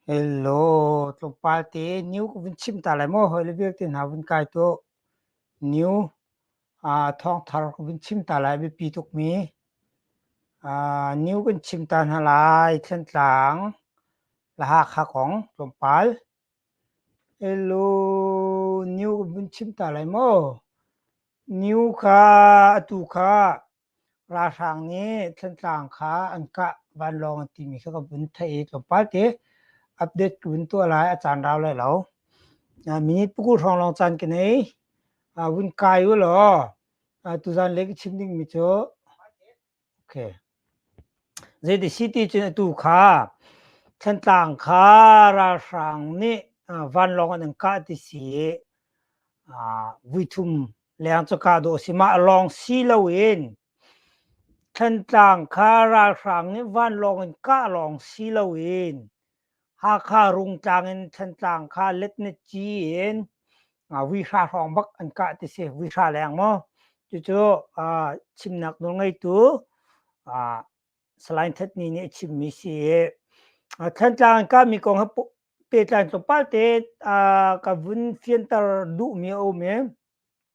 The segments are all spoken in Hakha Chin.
Hello, tlawmpal te New ka vun chim ta lai maw hawile vialte hna vun kai tuah. New ah thawngthar ka vun chim ta lai biapi tukmi. Ah, New kan chim ta hna lai Thlantlang, Lahakha kong tlawmpal. Hello, New kan vun chim ta lai maw? Niu kha atu kha ralhrang nih Thantlang kha an kah vanlawng an timi kha ka vun theih i tlawmpal ti update ka vun tuah lai a caan rau lai lo. Minute pukul hrawng lawng caan ka nei. Vun kai u law tuzaan le ka chim dingmi cu Zeitik siti cun atu kha Thantlang kha ralhrang nih vanlawng an in kah ti si i vuithum leng cu kah dawh a si. Mah lawng si loin Thantlang kha ralhrang nih vanlawng in kah lawng si loin Hakha Rungtlang in Thantlang kha let na ci in vihra hrawng bak an kah ti si. Vihra leng maw. Cucu chimnak nawl ngeitu Salain Thatni nih a chimmi si. Thantlang in kahmi kong he pehtlai tlawmpal te ka vun fianter duhmi a um i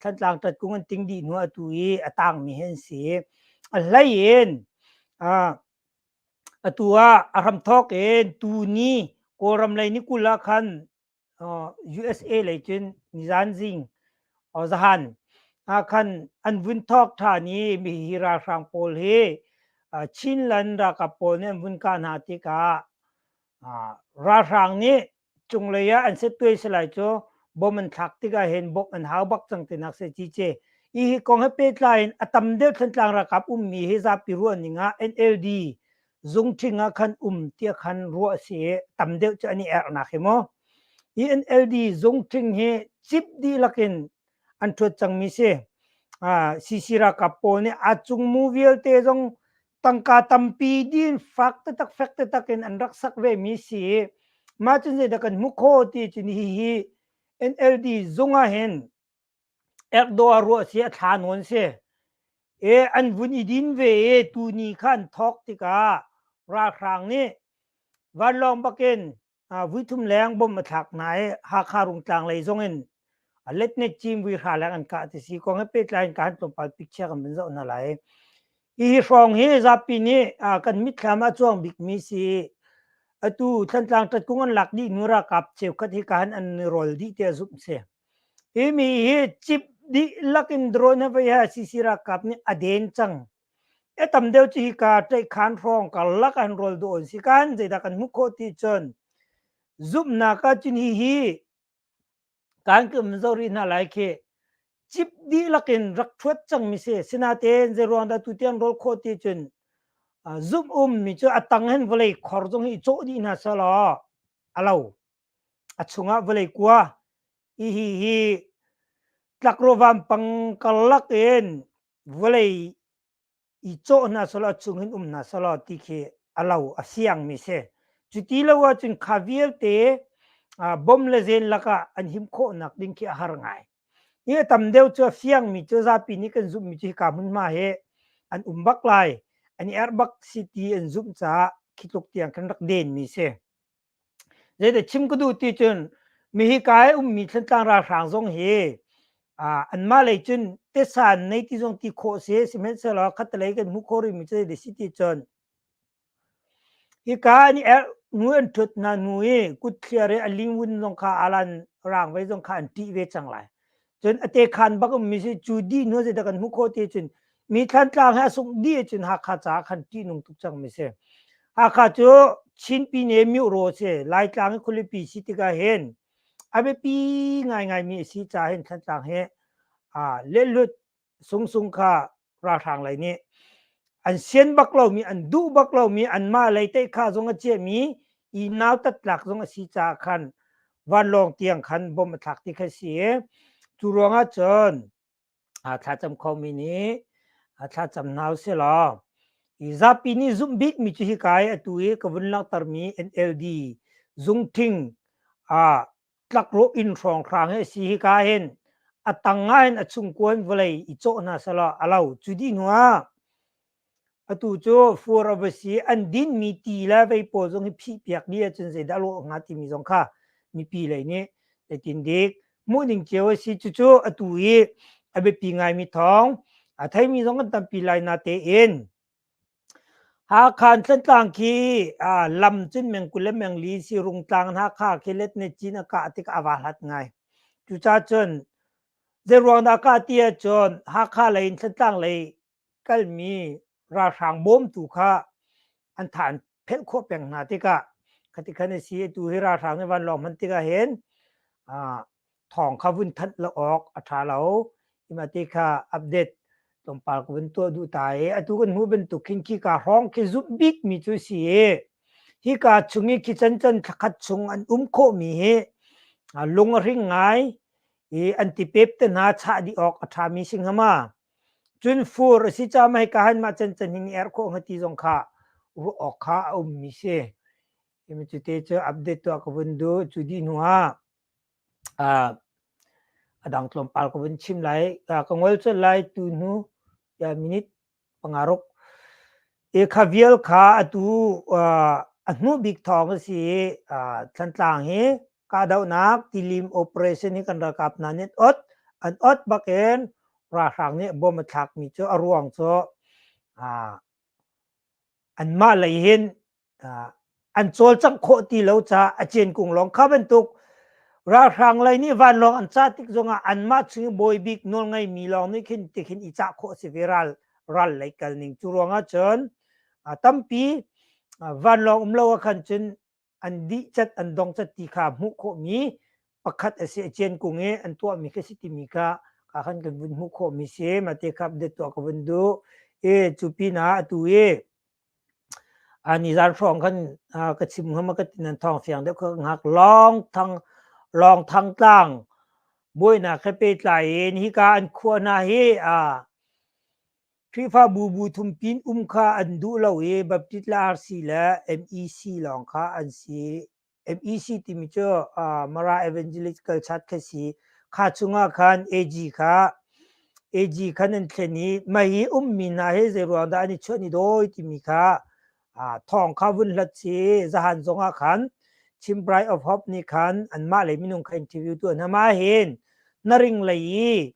Thantlang Tatkung an ting dih hnu atu i a tangmi hi an si. A hlei in atu ah a hram thawk in tuni Kawlram lei ni kul ah khan USA lei cun nizanzing zahan ah khan an vun thawk ṭhan i mi hi ralhrang pawl hi Chinland ralkap pawl nih an vun kah hna tikah ralhrang nih cunglei ah an set tuai salai cu bom an thlak tikah hin bom an hau bak cang tinak sai ci ce i hi kong he pehtlai in a tam deuh Thantlang ralkap ummi hi zapi ruahning ah NLD zungṭhing ah khan um tiah khan ruah a si i tam deuh cu an i ernak hi maw i NLD zungṭhing hi cip dihlak in an ṭhuat cangmi si uh, CC ralkap pawl nih a cung mu vialte zong tangka tampi din fak tetak fek tetak in an rak sak ve mi si ma cun zeidah kan hmu kho ti cun hi hi NLD zung ah hin Erdogan ruah si a thla nawn si e an vun i din ve e tu ni khan thok tikah ralhrang nih vanlawng bakin vuithum leng bom a thlak na i Hakha Rungtlang lei zong in a letnet cim vi hra leng an kah ti si kong he pehtlai in kan tlawmpal picture kan bin zoh hna lai hi hrawng hi zapi nih kan mitthlam a cuang bik mi si atu Thantlang tat kung an lak dih nu ra kap cheu khat hi kan an rol dih te zup si hi mi hi chip dih lakin drone ha vei ha sisi ra kap nih a den cang A tam deuh cu hika tlaihkhan hrawng karlak an rawl dawh an si kan zeidah kan hmuh khawh ti cun zumhnak ah cun hi hi kan kan zori hna lai khi cip dihlak in rak thuat cangmi si sinatein zeiruang dah tutian rawl khawh ti cun zumh ummi cu a tang hin vawlei khor zong hi cawh dih hna selaw a lo a chungah vawlei kua hi hi hi tlakro vampang karlak in vawlei i cawh hna selaw chungin um hna selaw ti khi a lo a siang mi si cu ti lo ah cun kha vialte bom le zen lakah an him khawhnak ding khi a har ngai hi a tam deuh cu a fiang mi cu zapi nih kan zumh mi cu hika hmunhma hi an um bak lai an i arh bak si ti an zumh caah khi tluk tiang kan rak den mi si Zeidah chim ka duh ti cun mihika i ummi Thlantlang ralhrang zong hi anmah lei cun tesa an nei ti zong ti khawh a si. Sihmanhsehlaw khattelei kan hmuh khawh rihmi cu zeidah a si ti cun hika an i erh nu an ṭhut hna hnu i kutthliar i a lingvun zong kha a lan rangvei zong kha an ṭih ve cang lai. cun ate khan bak um mi si chu di nu zei da kan hmu kho ti cun mi thlan tlang he asuk di cun hakha ca khan ti nung tuk cang mi si hakha cu chinpi ne miu ro se lai tlang khulipi si tika hen abe pi ngai ngai mi si cha hen thlan tlang he a lelut sungsung kha ralhrang lei nih an sian bak lomi an duh bak lomi anmah lei tei kha zong a ciami i nautat tlak zong a si caah khan vanlawng tiang khan bom a thlak ti kha si cu ruangah cun thlacam khomi nih thlacam nau si law i zapi nih zumh bikmi cu hi kai atu i ka vun langhtermi NLD zung thing a tlakrawh inn hrawnghrang hi a si hika hin a tang ngai in a chungkua in vawlei i cawh hna selaw a lo cu dih hnu ah atu cu fur avasi an dinmi ti le vei pawl zong hi phihpiak ni ahcun zeidah lawh hnga timi zong kha mipi lei nih zeitin dik hmuhning cio a si cucu atu i a biapi ngaimi thawng a theimi zong kan tampi lai na tein Hakhan Tlantlang khi aa lam cun meng kul le meng li sirung tlang in Hakha khi let ne cin a kah tik ah aa hlat ngai. Cucacun zeiruangdah a kah ti ahcun Hakha lei in Tlantlang lei kalmi ralhrang bawm tu kha an tha an phelh khawh peng hna tikah khatikhan a si. Atu hi ralhrang nih vanlawng hman tikah hin aa thawng kha vun thanh lo awk a tha lo imati kha update tlawmpal ko vun tuah duh ta i atu kan hmu bantuk khin khi ka hrawng khi zumh bik mi cu si i hi ka chung i khi chan chan thakhat chung an um kho mi hi lung a ring ngai i an ti pep te hna cha di ok a tha mi sing hama cun fur si cha mai ka han ma chan chan hin er kho ngati zong kha ru ok kha a um mi si im cu te chu update to ka vun du chu di nu ha a dang tlawmpal ka vun chim lai. ka ngol cun lai tunu minute panga ruk. Hi kha vial kha atu a hnu bik thawng a si i Thantlang hi kahdohnak tilim operation hi kan ralkap hna nih an ot bakin ralhrang nih bom a thlakmi cu a ruang cu anmah lei hin an cawlcangh khawh ti lo caah a ceen kung lawng kha bantuk ralhrang lei nih vanlawng an cah tik zongah anmah chung i bawi bik nawl ngaimi lawng nih khin tikhin i cah khawh a si ve ral ral lei kal ning cu ruangah cun tampi vanlawng um lo ah khan cun an dih cat an dong cat ti kha hmuh khawhmi pakhat a si a cien kung i an tuahmi ka si timi kha ka khan kan vun hmuh khawhmi si mate khap de tuah ka vun duh e cu pin ah atu i A nizaan hrawng khan ka chim ngam a ka ti nan thawng fiang deuh ka ngak lawng thang lawng thang tlang buainak he pehtlai in hika an khuah hna hi a Khrihfabu bu thumpin um kha an duh lo i Baptist le RC le MEC lawng kha an si. FEC timi cu uh, Mara Evangelist Kalsat kha si kha chungah khan AG kha AG khan an thlen i mai hi ummi na he zei ruang dah an i chuan i doi timi kha uh, thong kha vun hlat si zahan zongah khan Chimprai of Hope ni khan an mah le minung kha interview tu an hama hin na ring lei i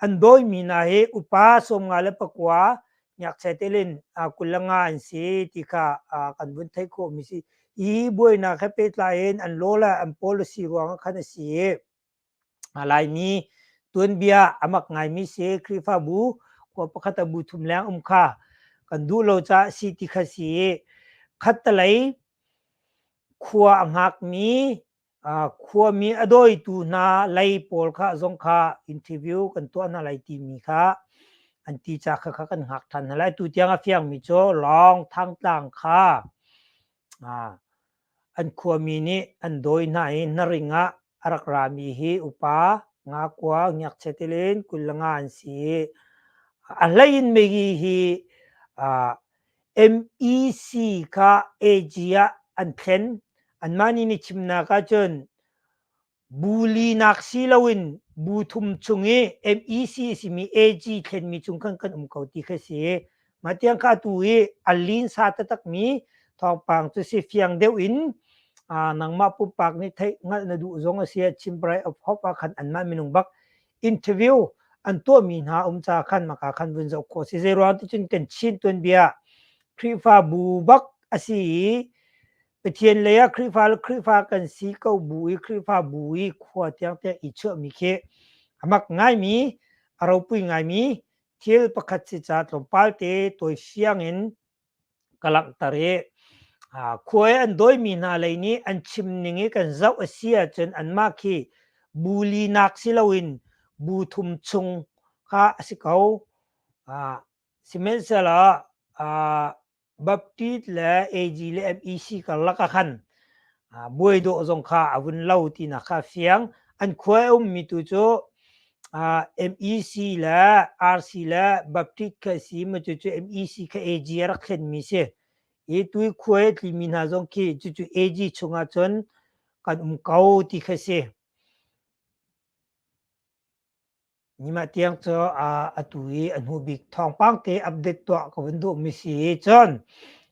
an doi mi na he upa som nga le pakwa ngakchia telin kulanga an si ti kha kan vun theih khawh mi si hi buainak he pehtlai in an lola an policy ruang khan a si laimi tuanbia amak ngai mi si krifabu ko pakhat a bu thum leng um kha kan du lo cha si ti kha si khattalai khua a ngak mi khuami a dawitu hna lei pawl kha zong kha interview kan tuah hna lai timi kha an ti ca kha kha kan hngak ṭhan hna lai tu tiang a fiangmi cu lawng thangtlang kha an khuami nih an dawi hna i na ring ah a rak rami hi upa ngakua ngakchia tilin kul nga an si a hleiin megi hi MEC kha AG ah an thlen anmah nih ni chimnak ahcun bu linak si loin bu thum chung i MEC simi AG thlenmi cung khan kan um ko ti kha si mah tiang kha tu i a linsa taktakmi thawngpang cu si fiang deuh in nangmah pumpak nih theih hngalh na duh zong a si chim parai of hope ah khan anmah minung bak interview an tuahmi hna um ca khan maka khan vun zoh khawh si zeiruang ti cun kan chin tuanbia Khrihfa bu bak a si i Pathian lei ah Khrihfa le Khrihfa kan si ko bu i Khrihfa bu i khua tiang tiang i chuahmi khi a mak ngaimi a ropui ngaimi thil pakhat si ca tlawmpal te toi fiang in ka langhter i khua i an dawimi hna lei nih an chimning i kan zoh a si ahcun anmah khi bu linak si loin bu thum chung kha a si ko. Sihmanhsehlaw Baptist le AG le MEC karlak ah khan buai dawh zong kha a vun lo tinak kha a fiang. An khua i a ummi tu cu ah MEC le RC le Baptist kha a si ma cucu MEC kha AG a rak thlenmi si i tuikhuai a tlimi hna zong khi cucu AG chungah cun kan um ko ti kha si nima tiang cu a atu i a hnu bik thawngpang te update tuah ka vun duhmi si cun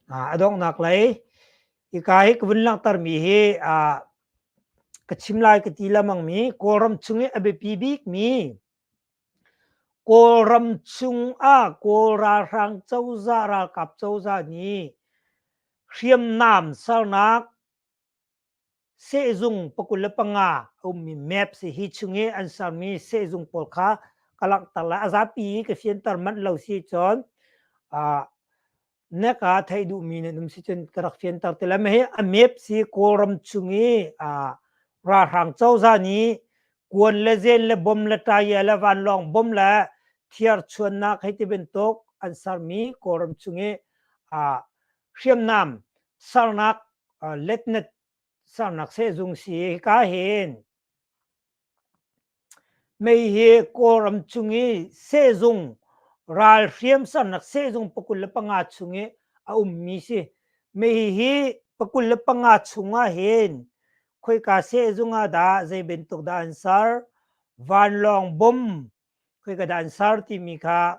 a donghnak lei Ika hi ka vun langhtermi hi uh, ka chim lai ka ti lamangmi Kawlram chung i a biapi bikmi Kawlram chung ah Kawl ralhrang cozah ralkap cozah nih hriamnam sernak sehzung pakul le panga a ummi map si hi chung i an sermi sehzung pawl kha ka langhter lai a zapi ka fianter manh lo si cun uh, na ka thei duhmi na num si cun ka rak fianter te la mei hi a mep si kawlram chung i a ralhrang cozah nih kuan le zen le bom le taya le vanlawng bom le thiarchuannak hei ti bantuk an sermi kawlram chung i a hriamnam sernak letnet sernak sehzung si ka hin mei hi kawlram chung i sehzung ral hriam sernak sehzung pakul le panga chung i a ummi si mei hi pakul le panga chungah hin khoika sehzung ah dah zei bantuk dah an ser vanlawng bom khoika dah an ser timi kha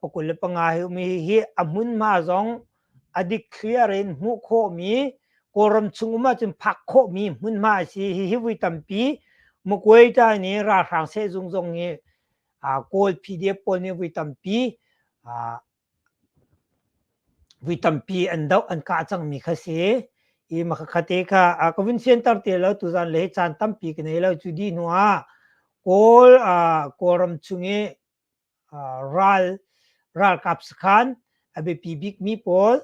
pakul le panga mi hi a hmunhma zong a dikthliar in hmuh khawhmi kawlram chung um ahcun phak khawhmi hmunhma a si hihi vui tampi mukuai ta nih ralhrang sehzung zong hi kawl pdf pawl nih vui tampi vui tampi an doh an kah cangmi kha si i makhakhate kha ka vun siantar te lo tuzan le caan tampi ka nei lo cu di hnu ah kawl kawlram chung i ralkap sakhan a biapi bikmi pawl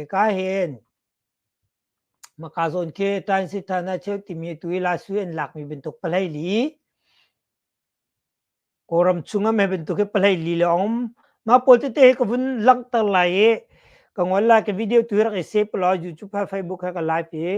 ka hen Makazon ke Transit Thana Cheu timi tu i lasu an lakmi bantuk palai li Kawram chung am he bantuk hi palai li le om ma pawl tete he ka vun langhter lai i ka ngol lai ka video tu rak i save lo YouTube ha Facebook ha ka live i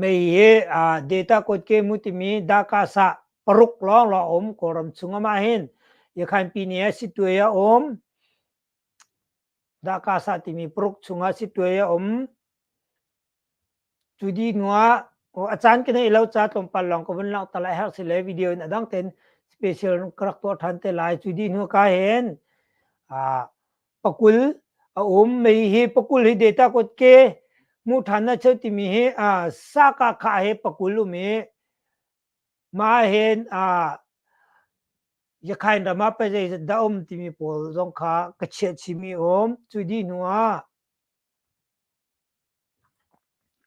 Mei hi aa data kotke mu timi Dhaka's ah paruk lawnglawng a um Kawlram chung amah hin Yakhanpini ah Sitwe a um. Dhaka's ah timi paruk chung ah Sitwe a um. Cu dih hnu ah aw a caan ka neih lo ca tlawmpal lawng ka vun langhter lai herh si le video in a dang ten special ka rak tuah ṭhan te lai. Cu dih hnu ka hin aa pakul a um mei hi pakul hi data kutke hmuh ṭhan a cheu timi hi aa sakahkhah he pakul um i mah hen aa Yakhain ram ah pazei zat dah um timi pawl zong kha ka chiah chihmi a um. Cu dih hnu ah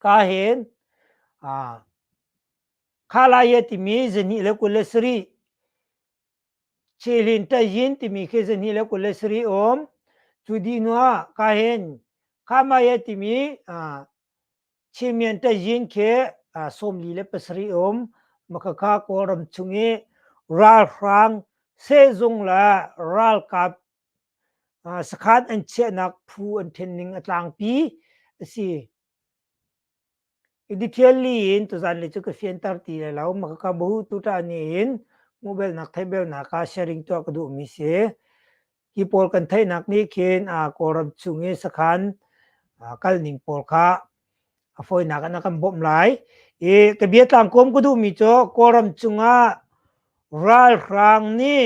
ka hen aa kha lai timi zahnih le kul le sarih Celin Tayin timi khi zahnih le kul le sarih a um. Cu dih hnu ah ka hin Khamaya timi uh, Chimian Tayin khi uh, sawmli le pasarih a um. Makhakha Kawlram chung i ralhrang sehzung le ralkap uh, sakhan an chiahnak phu an ṭhenning a tlangpi a si. I dikhial li in tuzan le cu ka fianter ti lai lo. Maka ka bu tutan ni in mubelnak theibelnak ah sharing tuah ka duhmi si. Hi pawl kan theihnak nih khin Kawlram chung i sakhan kalning pawl kha a fawinak in a kan bawmh lai. I ka bia tlang kuam ka duhmi cu Kawlram cung ah ralhrang nih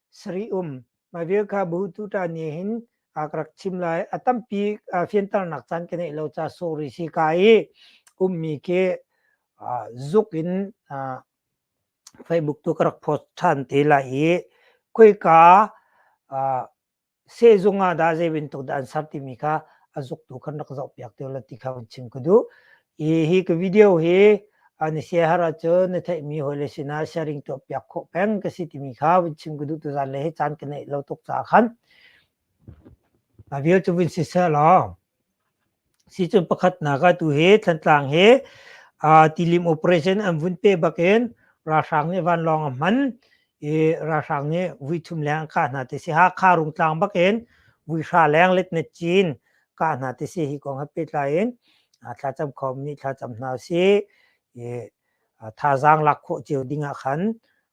sari um mai vel kha bu tu ta ni hin ak rak chim lai a tampi fiantar nak caan ke nei lo cha sorry si ka i um mi ke zuk in facebook tu ka rak post than te lai i khoi ka sehzung ah dah zei bantuk dah an ser timi kha a zuktu kan rak zohpiak te la ti kha van chim ka duh. I hi ka video hi na siahar ahcun na theihmi hawi le sinah sharing tuah piak khawh peng ka si timi kha van chim ka duh tu zan le hi caan ka neih lo tuk caah khan a vial cu vin si seh law Sicun pakhatnak ah tuhi Thantlang hi aa tilim operation an vun pe bak in ralhrang nih vanlawng a hman i ralhrang nih vuithum leng an kah hna ti si. Hakha Rungtlang bak in vuihra leng letnet cin kah hna ti si hi kong he pehtlai in thlacam khawm nih thlacam hna usih i thazaang lak khawh cio ding ah khan